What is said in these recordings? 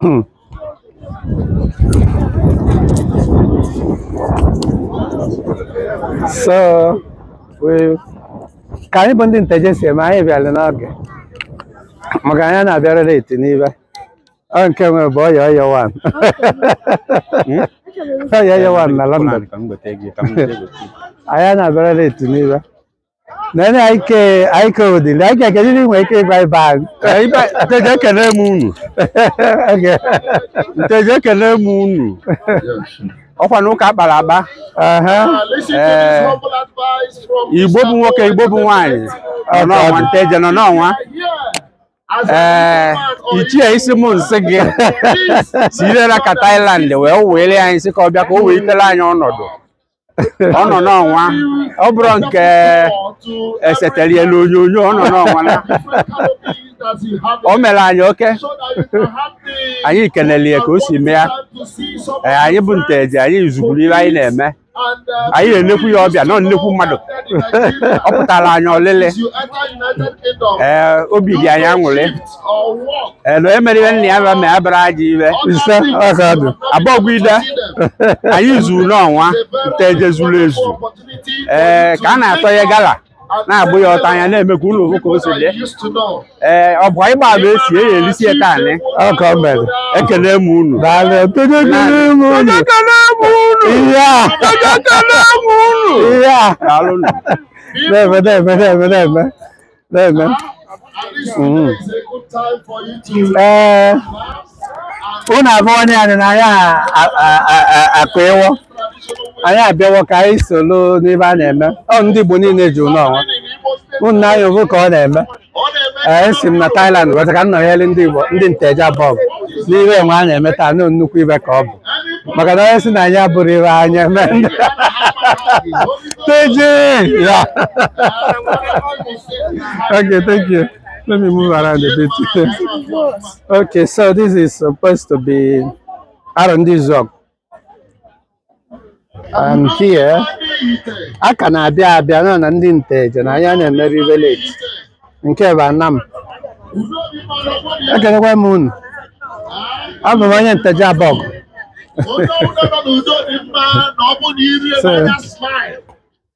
Hmm. so we- ka anyị bụ ndị nteje si eme anyị bịara n'oge maka anyị na-abịara late n'ive ọ nke nwe bụ ọya ọya wan ọya ọya wan na London Ka m gote gị, ka m gote gị. anyị na-abịara late n'ive na na ike ike ụdị na ike kedu ihe i nwere ike ịgwa ibe anyị Ee, ibe nteje ekele m unu Oge. nteje ekele m unu ọ kwa na ụka a kpara akpa Aha. Ee, igbo bụ nwoke igbo bụ nwaanyị nọ n'ọnwa nteje nọ n'ọnwa ee ichie isi m nsị gị si irela ka Thailand wee were anyị sị ka ọ bịa ka o wee itere anyị ọnọdụ ọ nọ n'ọnwa ọ bụrụ nke e setere ya n'onyonyo ọ nọ n'ọnwa na o mere anyị oke anyị kenele ya ka o si mee ya Ee, anyị bụ nteje anyị zuburu ihe anyị na-eme anyị na-enekwu ya ọbịa na ọ nnekwu mmadụ ọ pụtara anyị ọlịlị ee obi dị anyị aṅụrị elu emere ihe nna ya bịa ma ya bịara aja iwe ise aka dị abọgwide anyị zuru n'ọnwa nteje zuru ezu ee ka a na-atọ ya gala na-agbụ ya ọta anya na-eme ka ụlọ ofu ka o si dị ee ọ bụ anyị gbaba esi eyi elisi ya taa anyị ọka o mere ekele m unu daalụ nteje ekele m unu ihe a ihe a daalụ nụ na-eme na-eme na-eme na-eme na-eme Mhm. ee unu avụwo na anyị na anyị a- a- a- a- a- akụ ịwọ anyị abịawo ka anyị soro n'ebe a na-eme ọ ndị Igbo niile ji unu ọnwa unu na anyị ovu ka ọ na-eme ee esi m na Thailand bata ka m nọnyere ndị Igbo ndị nteje abọgụ n'ihe enwe a na-eme taa na nnukwu ive ka ọ bụ maka na onye si na anyị abụrụ ive anyị eme ndị nteje ya okay thank you let me move around a bit okay so this is supposed to be arọndizuọgụ and here a ka na-abịa abịa na na ndị nteje na anyị a na-emeri ive late nke bụ anam ekelekwa m unu abụ m onye nteje abọgụ Onye ọbụla nọ n'udo dị mma na ọ bụ na iri So- ebe anya smile.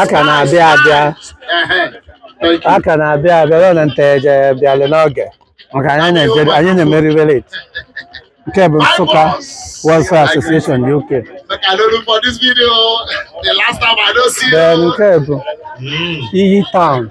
a ka na-abịa abịa Ehe. Thank you. a ka na-abịa abịa ruo na nteje bịalụ n'oge maka anyị na-eje- anyị na-emeri ive late nke bụ Nsụka Welfare Association UK Make I no look for this video. The last time I don't see you. nke bụ iyi town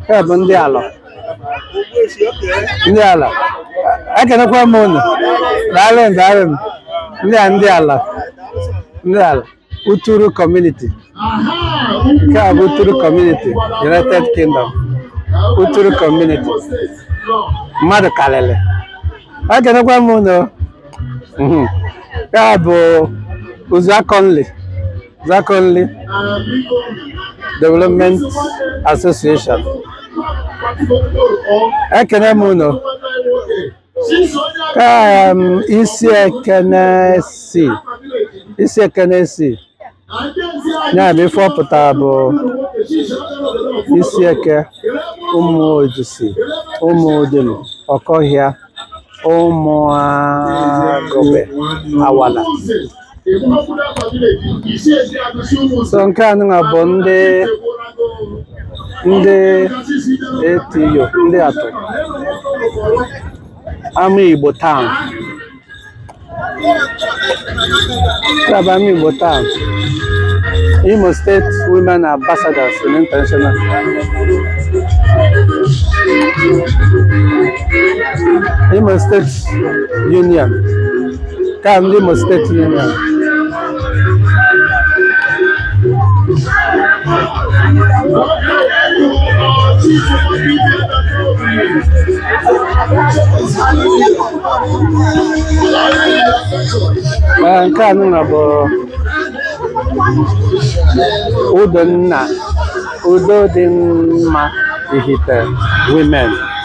Nke a bụ ndị ala ndị ala ekenekwa m unu daalụ m, daalụ m. ndị a ndị ala ndị ala uturu kọmuniti nke a bụ uturu kọmuniti united kingdom uturu kọmuniti mmadụ karịrị ekenekwa m unu Mhm. nke a bụ Uzuakoli Uzuakoli Development Association ekene m unu Em, Isiekenesi Isiekenesi ya bụ ife ọ pụtara bụ Isieke Umuojisi Umudim Okohia Umuaghobe Awalla so nke a nụnwa bụ ndị Ideato Ideato Amaigbo Town Club Amaigbo Town, Imo State Women Ambassadors in International. Imo State Union. ka ndị Imo steeti niile Ee, nke a nụnwa bụ udo nna udo dị mma Ihite women